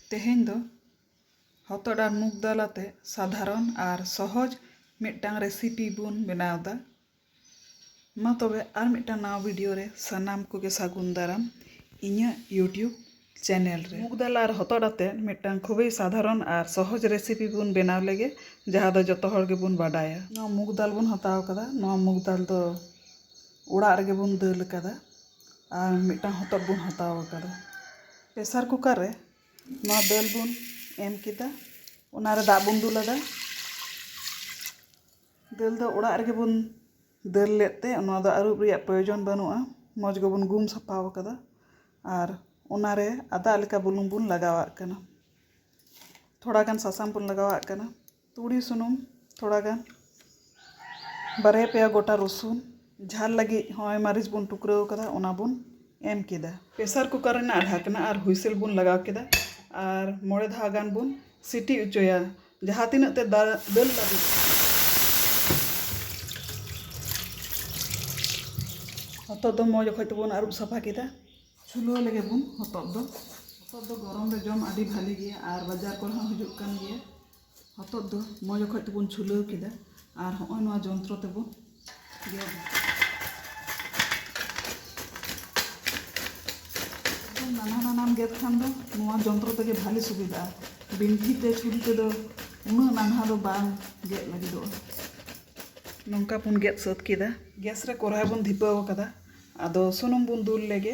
ᱛᱮᱦᱮᱧ ᱫᱚ ᱦᱚᱛᱚᱫ ᱟᱨ ᱢᱩᱜᱽ ᱫᱟᱞ ᱟᱛᱮ ᱥᱟᱫᱷᱟᱨᱚᱱ ᱟᱨ ᱥᱚᱦᱚᱡᱽ ᱢᱤᱫᱴᱟᱝ ᱨᱮᱥᱤᱯᱤ ᱵᱚᱱ ᱵᱮᱱᱟᱣ ᱮᱫᱟ ᱢᱟ ᱛᱚᱵᱮ ᱟᱨ ᱢᱤᱫᱴᱟᱝ ᱱᱟᱣᱟ ᱵᱷᱤᱰᱤᱭᱳ ᱨᱮ ᱥᱟᱱᱟᱢ ᱠᱚᱜᱮ ᱥᱟᱹᱜᱩᱱ ᱫᱟᱨᱟᱢ ᱤᱧᱟᱹᱜ ᱤᱭᱩᱴᱤᱭᱩᱵᱽ ᱪᱮᱱᱮᱞ ᱨᱮ ᱢᱩᱜᱽ ᱫᱟᱞ ᱟᱨ ᱦᱚᱛᱚᱫ ᱟᱛᱮ ᱢᱤᱫᱴᱟᱝ ᱠᱷᱩᱵᱮᱭ ᱥᱟᱫᱷᱟᱨᱚᱱ ᱟᱨ ᱥᱚᱦᱚᱡᱽ ᱨᱮᱥᱤᱯᱤ ᱵᱚᱱ ᱵᱮᱱᱟᱣ ᱞᱮᱜᱮ ᱡᱟᱦᱟᱸ ᱫᱚ ᱡᱚᱛᱚ ᱦᱚᱲ ᱜᱮᱵᱚᱱ ᱵᱟᱰᱟᱭᱟ ᱱᱚᱣᱟ ᱢᱩᱜᱽ ᱫᱟᱞ ᱵᱚᱱ ᱦᱟᱛᱟᱣ ᱟᱠᱟᱫᱟ ᱱᱚᱣᱟ ᱢᱩᱜᱽ ᱫᱟᱞ ᱫᱚ ᱚᱲᱟᱜ ᱨᱮᱜᱮ ᱵᱚᱱ ᱫᱟᱹᱞ ᱟᱠᱟᱫᱟ ᱟᱨ ᱢᱤᱫᱴᱟᱝ ᱦᱚᱛᱚᱫ ᱵᱚᱱ ᱦᱟᱛᱟᱣ ᱟᱠᱟᱫᱟ ᱯᱮᱥᱟᱨ ᱠᱩᱠᱟᱨ ᱨᱮ ᱱᱚᱣᱟ ᱫᱟᱹᱞ ᱵᱚᱱ ᱮᱢ ᱠᱮᱫᱟ ᱚᱱᱟᱨᱮ ᱫᱟᱜ ᱵᱚᱱ ᱫᱩᱞ ᱟᱫᱟ ᱫᱟᱹᱞ ᱫᱚ ᱚᱲᱟᱜ ᱨᱮᱜᱮ ᱵᱚᱱ ᱫᱟᱹᱞ ᱞᱮᱫ ᱛᱮ ᱱᱚᱣᱟ ᱫᱚ ᱟᱹᱨᱩᱵ ᱨᱮᱭᱟᱜ ᱯᱨᱚᱭᱳᱡᱚᱱ ᱵᱟᱹᱱᱩᱜᱼᱟ ᱢᱚᱡᱽ ᱜᱮᱵᱚᱱ ᱜᱩᱢ ᱥᱟᱯᱷᱟ ᱟᱠᱟᱫᱟ ᱟᱨ ᱚᱱᱟᱨᱮ ᱟᱫᱟᱜ ᱞᱮᱠᱟ ᱵᱩᱞᱩᱝ ᱵᱚᱱ ᱞᱟᱜᱟᱣᱟᱜ ᱠᱟᱱᱟ ᱛᱷᱚᱲᱟ ᱜᱟᱱ ᱥᱟᱥᱟᱝ ᱵᱚᱱ ᱞᱟᱜᱟᱣᱟᱜ ᱠᱟᱱᱟ ᱛᱩᱲᱤ ᱥᱩᱱᱩᱢ ᱛᱷᱚᱲᱟ ᱜᱟᱱ ᱵᱟᱨᱭᱟ ᱯᱮᱭᱟ ᱜᱚᱴᱟ ᱨᱚᱥᱩᱱ ᱡᱷᱟᱞ ᱞᱟᱹᱜᱤᱫ ᱦᱚᱸᱜᱼᱚᱭ ᱢᱟᱹᱨᱤᱪ ᱵᱚᱱ ᱴᱩᱠᱨᱟᱹᱣ ᱠᱟᱫᱟ ᱚᱱᱟ ᱵᱚᱱ ᱮᱢ ᱠᱮᱫᱟ ᱯᱮᱥᱟᱨ ᱠᱩᱠᱟᱨ ᱨᱮᱱᱟᱜ ᱰᱷᱟᱠᱱᱟ ᱟᱨ ᱦᱩᱭᱥᱮᱞ ᱵᱚᱱ ᱞᱟᱜᱟᱣ ᱠᱮᱫᱟ ᱟᱨ ᱢᱚᱬᱮ ᱫᱷᱟᱣ ᱜᱟᱱ ᱵᱚᱱ ᱥᱤᱴᱤ ᱚᱪᱚᱭᱟ ᱡᱟᱦᱟᱸ ᱛᱤᱱᱟᱹᱜ ᱛᱮ ᱫᱟᱹᱞ ᱫᱟᱹᱞ ᱞᱟᱹᱵᱤᱫ ᱦᱚᱛᱚᱫ ᱫᱚ ᱢᱚᱡᱽ ᱚᱠᱚᱡ ᱛᱮᱵᱚᱱ ᱟᱹᱨᱩᱵ ᱥᱟᱯᱷᱟ ᱠᱮᱫᱟ ᱪᱷᱩᱞᱟᱹᱣ ᱞᱮᱜᱮ ᱵᱚᱱ ᱦᱚᱛᱚᱫ ᱫᱚ ᱦᱚᱛᱚᱫ ᱫᱚ ᱜᱚᱨᱚᱢ ᱨᱮ ᱡᱚᱢ ᱟᱹᱰᱤ ᱵᱷᱟᱹᱞᱤ ᱜᱮᱭᱟ ᱟᱨ ᱵᱟᱡᱟᱨ ᱠᱚᱨᱮ ᱦᱚᱸ ᱦᱤᱡᱩᱜ ᱠᱟᱱ ᱜᱮᱭᱟ ᱦᱚᱛᱚᱫ ᱫᱚ ᱢᱚᱡᱽ ᱚᱠᱚᱡ ᱛᱮᱵᱚᱱ ᱪᱷᱩᱞᱟᱹᱣ ᱠᱮᱫᱟ ᱟᱨ ᱦᱚᱸᱜᱼᱚᱭ ᱱᱚᱣᱟ ᱡᱚᱱᱛᱨᱚ ᱛᱮᱵᱚᱱ ᱜᱮᱫᱟ ᱱᱟᱱᱦᱟ ᱱᱟᱱᱦᱟᱢ ᱜᱮᱫ ᱠᱷᱟᱱ ᱫᱚ ᱱᱚᱣᱟ ᱡᱚᱱᱛᱨᱚ ᱛᱮᱜᱮ ᱵᱷᱟᱞᱮ ᱥᱩᱵᱤᱫᱷᱟᱜᱼᱟ ᱵᱤᱱᱴᱷᱤ ᱛᱮ ᱪᱷᱩᱨᱤ ᱛᱮᱫᱚ ᱩᱱᱟᱹᱜ ᱱᱟᱱᱦᱟ ᱫᱚ ᱵᱟᱝ ᱜᱮᱫ ᱞᱟᱹᱜᱤᱫᱚᱜᱼᱟ ᱱᱚᱝᱠᱟ ᱵᱚᱱ ᱜᱮᱫ ᱥᱟᱹᱛ ᱠᱮᱫᱟ ᱜᱮᱥ ᱨᱮ ᱠᱚᱨᱦᱟᱭ ᱵᱚᱱ ᱫᱷᱤᱯᱟᱹᱣ ᱟᱠᱟᱫᱟ ᱟᱫᱚ ᱥᱩᱱᱩᱢ ᱵᱚᱱ ᱫᱩᱞ ᱞᱮᱜᱮ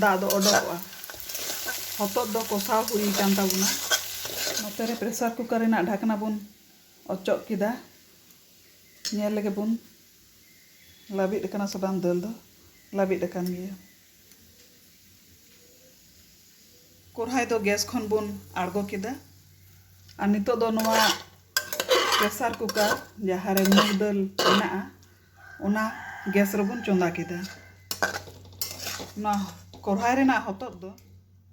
ᱫᱟᱜ ᱫᱚ ᱚᱰᱚᱠᱚᱜᱼᱟ᱾ ᱦᱚᱛᱚᱫ ᱫᱚ ᱠᱚᱥᱟᱣ ᱦᱩᱭ ᱟᱠᱟᱱ ᱛᱟᱵᱚᱱᱟ᱾ ᱱᱚᱛᱮ ᱨᱮ ᱯᱨᱮᱥᱟᱨ ᱠᱩᱠᱟᱨ ᱨᱮᱱᱟᱜ ᱰᱷᱟᱠᱱᱟ ᱵᱚᱱ ᱚᱪᱚᱜ ᱠᱮᱫᱟ᱾ ᱧᱮᱞ ᱞᱮᱜᱮ ᱵᱚᱱ ᱞᱟᱹᱵᱤᱫ ᱟᱠᱟᱱᱟ ᱥᱮ ᱵᱟᱝ᱾ ᱫᱟᱹᱞ ᱫᱚ ᱞᱟᱹᱵᱤᱫ ᱟᱠᱟᱱ ᱜᱮᱭᱟ᱾ ᱠᱚᱨᱦᱟᱭ ᱫᱚ ᱜᱮᱥ ᱠᱷᱚᱱ ᱵᱚᱱ ᱟᱬᱜᱚ ᱠᱮᱫᱟ᱾ ᱟᱨ ᱱᱤᱛᱚᱜ ᱫᱚ ᱱᱚᱣᱟ ᱯᱨᱮᱥᱟᱨ ᱠᱩᱠᱟᱨ ᱡᱟᱦᱟᱸ ᱨᱮ ᱢᱩᱜᱽ ᱫᱟᱹᱞ ᱢᱮᱱᱟᱜᱼᱟ ᱚᱱᱟ ᱜᱮᱥ ᱨᱮᱵᱚᱱ ᱪᱚᱸᱫᱟ ᱠᱮᱫᱟ ᱱᱚᱣᱟ ᱠᱚᱲᱦᱟᱭ ᱨᱮᱱᱟᱜ ᱦᱚᱛᱚᱫ ᱫᱚ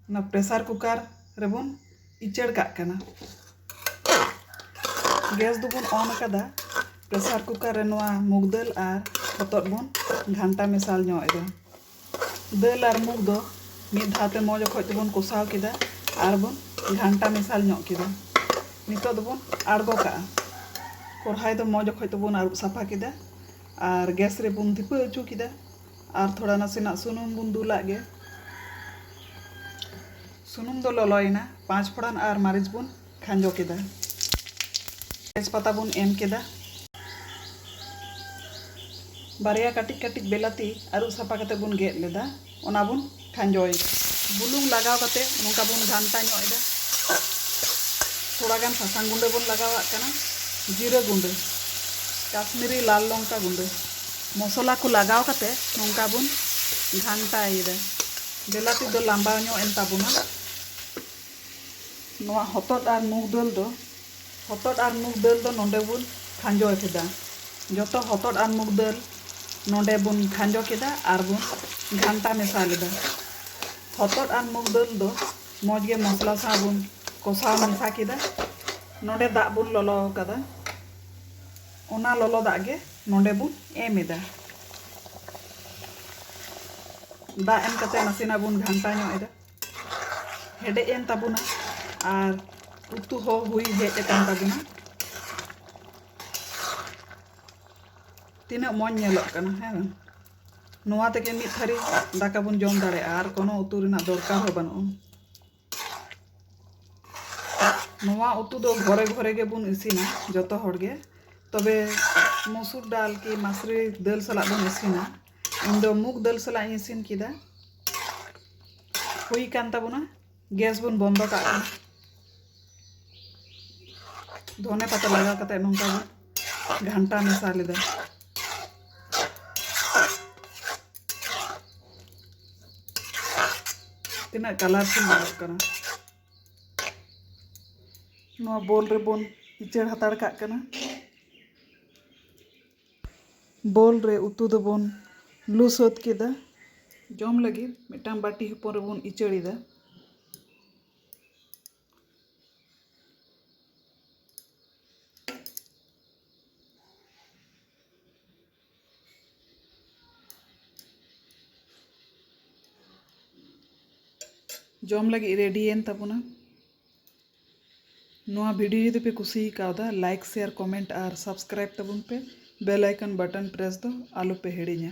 ᱚᱱᱟ ᱯᱨᱮᱥᱟᱨ ᱠᱩᱠᱟᱨ ᱨᱮᱵᱚᱱ ᱩᱪᱟᱹᱲ ᱠᱟᱜ ᱠᱟᱱᱟ ᱜᱮᱥ ᱫᱚᱵᱚᱱ ᱚᱱ ᱠᱟᱫᱟ ᱯᱨᱮᱥᱟᱨ ᱠᱩᱠᱟᱨ ᱨᱮ ᱱᱚᱣᱟ ᱢᱩᱜᱽ ᱫᱟᱹᱞ ᱟᱨ ᱦᱚᱛᱚᱫ ᱵᱚᱱ ᱜᱷᱟᱱᱴᱟ ᱢᱮᱥᱟᱞ ᱧᱚᱜ ᱮᱫᱟ ᱫᱟᱹᱞ ᱟᱨ ᱢᱩᱜᱽ ᱫᱚ ᱢᱤᱫ ᱫᱷᱟᱣ ᱛᱮ ᱢᱚᱡᱽ ᱚᱠᱚᱡ ᱛᱮᱵᱚᱱ ᱠᱚᱥᱟᱣ ᱠᱮᱫᱟ ᱟᱨ ᱵᱚᱱ ᱜᱷᱟᱱᱴᱟ ᱢᱮᱥᱟᱞ ᱧᱚᱜ ᱠᱮᱫᱟ ᱱᱤᱛᱚᱜ ᱫᱚᱵᱚᱱ ᱟᱬᱜᱚ ᱠᱟᱜᱼᱟ ᱠᱚᱲᱦᱟᱭ ᱫᱚ ᱢᱚᱡᱽ ᱚᱠᱚᱡ ᱛᱮᱵᱚᱱ ᱟᱹᱨᱩᱵ ᱥᱟᱯᱷᱟ ᱠᱮᱫᱟ ᱟᱨ ᱜᱮᱥ ᱨᱮᱵᱚᱱ ᱫᱷᱤᱯᱟᱹ ᱦᱚᱪᱚ ᱠᱮᱫᱟ ᱟᱨ ᱛᱷᱚᱲᱟ ᱱᱟᱥᱮᱱᱟᱜ ᱥᱩᱱᱩᱢ ᱵᱚᱱ ᱫᱩᱞᱟᱜ ᱜᱮ ᱥᱩᱱᱩᱢ ᱫᱚ ᱞᱚᱞᱚᱭᱮᱱᱟ ᱯᱟᱸᱪ ᱯᱷᱚᱲᱟᱱ ᱟᱨ ᱢᱟᱹᱨᱤᱪ ᱵᱚᱱ ᱠᱷᱟᱸᱡᱚ ᱠᱮᱫᱟ᱾ ᱛᱮᱡᱽ ᱯᱟᱛᱟ ᱵᱚᱱ ᱮᱢ ᱠᱮᱫᱟ᱾ ᱵᱟᱨᱭᱟ ᱠᱟᱹᱴᱤᱡ ᱠᱟᱹᱴᱤᱡ ᱵᱮᱞᱟᱛᱤ ᱟᱹᱨᱩᱵ ᱥᱟᱯᱷᱟ ᱠᱟᱛᱮ ᱵᱚᱱ ᱜᱮᱫ ᱞᱮᱫᱟ ᱚᱱᱟ ᱵᱚᱱ ᱠᱷᱟᱸᱡᱚ ᱮᱫᱟ᱾ ᱵᱩᱞᱩᱝ ᱞᱟᱜᱟᱣ ᱠᱟᱛᱮ ᱱᱚᱝᱠᱟ ᱵᱚᱱ ᱜᱷᱟᱱᱴᱟ ᱧᱚᱜ ᱮᱫᱟ᱾ ᱛᱷᱚᱲᱟ ᱜᱟᱱ ᱥᱟᱥᱟᱝ ᱜᱩᱸᱰᱟᱹ ᱵᱚᱱ ᱞᱟᱜᱟᱣᱟᱜ ᱠᱟᱱᱟ᱾ ᱡᱤᱨᱟᱹ ᱜᱩᱸᱰᱟᱹ, ᱠᱟᱥᱢᱤᱨᱤ ᱞᱟᱞ ᱞᱚᱝᱠᱟ ᱜᱩᱸᱰᱟᱹ᱾ ᱢᱚᱥᱚᱞᱟ ᱠᱚ ᱞᱟᱜᱟᱣ ᱠᱟᱛᱮ ᱱᱚᱝᱠᱟ ᱵᱚᱱ ᱜᱷᱟᱱᱴᱟ ᱮᱫᱟ᱾ ᱵᱮᱞᱟᱛᱤ ᱫᱚ ᱞᱟᱢᱵᱟᱣ ᱧᱚᱜ ᱮᱱ ᱛᱟᱵᱚᱱᱟ᱾ ᱱᱚᱣᱟ ᱦᱚᱛᱚᱫ ᱟᱨ ᱢᱩᱜᱽ ᱫᱟᱹᱞ ᱫᱚ ᱦᱚᱛᱚᱫ ᱟᱨ ᱢᱩᱜᱽ ᱫᱟᱹᱞ ᱫᱚ ᱱᱚᱰᱮ ᱵᱚᱱ ᱠᱷᱟᱸᱡᱚ ᱠᱮᱫᱟ ᱡᱚᱛᱚ ᱦᱚᱛᱚᱫ ᱟᱨ ᱢᱩᱜᱽ ᱫᱟᱹᱞ ᱱᱚᱰᱮ ᱵᱚᱱ ᱠᱷᱟᱸᱡᱚ ᱠᱮᱫᱟ ᱟᱨ ᱵᱚᱱ ᱜᱷᱟᱱᱴᱟ ᱢᱮᱥᱟ ᱞᱮᱫᱟ ᱦᱚᱛᱚᱫ ᱟᱨ ᱢᱩᱜᱽ ᱫᱟᱹᱞ ᱫᱚ ᱢᱚᱡᱽ ᱜᱮ ᱢᱚᱥᱞᱟ ᱥᱟᱶ ᱵᱚᱱ ᱠᱚᱥᱟᱣ ᱢᱮᱥᱟ ᱠᱮᱫᱟ ᱱᱚᱰᱮ ᱫᱟᱜ ᱵᱚᱱ ᱞᱚᱞᱚ ᱟᱠᱟᱫᱟ ᱚᱱᱟ ᱞᱚᱞᱚ ᱫᱟᱜ ᱜᱮ ᱱᱚᱰᱮ ᱵᱚᱱ ᱮᱢ ᱮᱫᱟ ᱫᱟᱜ ᱮᱢ ᱠᱟᱛᱮ ᱱᱟᱥᱮᱱᱟᱜ ᱵᱚᱱ ᱜᱷᱟᱱᱴᱟ ᱧᱚᱜ ᱮᱫᱟ ᱦᱮᱰᱮᱡ ᱮᱱ ᱛᱟᱵᱚᱱᱟ ᱟᱨ ᱩᱛᱩ ᱦᱚᱸ ᱦᱩᱭ ᱦᱮᱡ ᱟᱠᱟᱱ ᱛᱟᱵᱚᱱᱟ ᱛᱤᱱᱟᱹᱜ ᱢᱚᱡᱽ ᱧᱮᱞᱚᱜ ᱠᱟᱱᱟ ᱦᱮᱸ ᱵᱟᱝ ᱱᱚᱣᱟ ᱛᱮᱜᱮ ᱢᱤᱫ ᱛᱷᱟᱹᱨᱤ ᱫᱟᱠᱟ ᱵᱚᱱ ᱡᱚᱢ ᱫᱟᱲᱮᱭᱟᱜᱼᱟ ᱟᱨ ᱠᱳᱱᱳ ᱩᱛᱩ ᱨᱮᱱᱟᱜ ᱫᱚᱨᱠᱟᱨ ᱦᱚᱸ ᱵᱟᱹᱱᱩᱜᱼᱟ ᱱᱚᱣᱟ ᱩᱛᱩ ᱫᱚ ᱜᱷᱚᱨᱮ ᱜᱷᱚᱨᱮ ᱜᱮᱵᱚᱱ ᱤᱥᱤᱱᱟ ᱡᱚᱛᱚ ᱦᱚᱲ ᱜᱮ ᱛᱚᱵᱮ ᱢᱩᱥᱩᱨ ᱰᱟᱞ ᱠᱤ ᱢᱟᱥᱨᱤ ᱫᱟᱹᱞ ᱥᱟᱞᱟᱜ ᱵᱚᱱ ᱤᱥᱤᱱᱟ ᱤᱧ ᱫᱚ ᱢᱩᱜᱽ ᱫᱟᱹᱞ ᱥᱟᱞᱟᱜ ᱤᱧ ᱤᱥᱤᱱ ᱠᱮᱫᱟ ᱦᱩᱭ ᱠᱟᱱ ᱛᱟᱵᱚᱱᱟ ᱜᱮᱥ ᱵᱚᱱ ᱵᱚᱱᱫᱚ ᱠᱟᱜ ᱠᱟᱱᱟ ᱫᱷᱚᱱᱮ ᱯᱟᱛᱟ ᱞᱟᱜᱟᱣ ᱠᱟᱛᱮ ᱱᱚᱝᱠᱟ ᱵᱚᱱ ᱜᱷᱟᱱᱴᱟ ᱢᱮᱥᱟ ᱞᱮᱫᱟ ᱛᱤᱱᱟᱹᱜ ᱠᱟᱞᱟᱨᱯᱷᱩᱞ ᱧᱮᱞᱚᱜ ᱠᱟᱱᱟ ᱱᱚᱣᱟ ᱵᱳᱞ ᱨᱮᱵᱚᱱ ᱤᱪᱟᱹᱲ ᱦᱟᱛᱟᱲ ᱠᱟᱜ ᱠᱟᱱᱟ ᱵᱚᱞ ᱨᱮ ᱩᱛᱩ ᱫᱚᱵᱚᱱ ᱞᱩ ᱥᱟᱹᱛ ᱠᱮᱫᱟ᱾ ᱡᱚᱢ ᱞᱟᱹᱜᱤᱫ ᱢᱤᱫᱴᱟᱝ ᱵᱟᱹᱴᱤ ᱦᱚᱯᱚᱱ ᱨᱮᱵᱚᱱ ᱤᱪᱟᱹᱲ ᱮᱫᱟ᱾ ᱡᱚᱢ ᱞᱟᱹᱜᱤᱫ ᱨᱮᱰᱤᱭᱮᱱ ᱛᱟᱵᱚᱱᱟ᱾ ᱱᱚᱣᱟ ᱵᱷᱤᱰᱤᱭᱳ ᱡᱩᱫᱤ ᱯᱮ ᱠᱩᱥᱤ ᱟᱠᱟᱣᱫᱟ ᱞᱟᱭᱤᱠ ᱥᱮᱭᱟᱨ ᱠᱚᱢᱮᱱᱴ ᱟᱨ ᱥᱟᱵᱥᱠᱨᱟᱭᱤᱵ ᱛᱟᱵᱚᱱ ᱯᱮ ᱵᱮᱞ ᱟᱭᱠᱚᱱ ᱵᱟᱴᱚᱱ ᱯᱨᱮᱥ ᱫᱚ ᱟᱞᱚ ᱯᱮ ᱦᱤᱲᱤᱧᱟ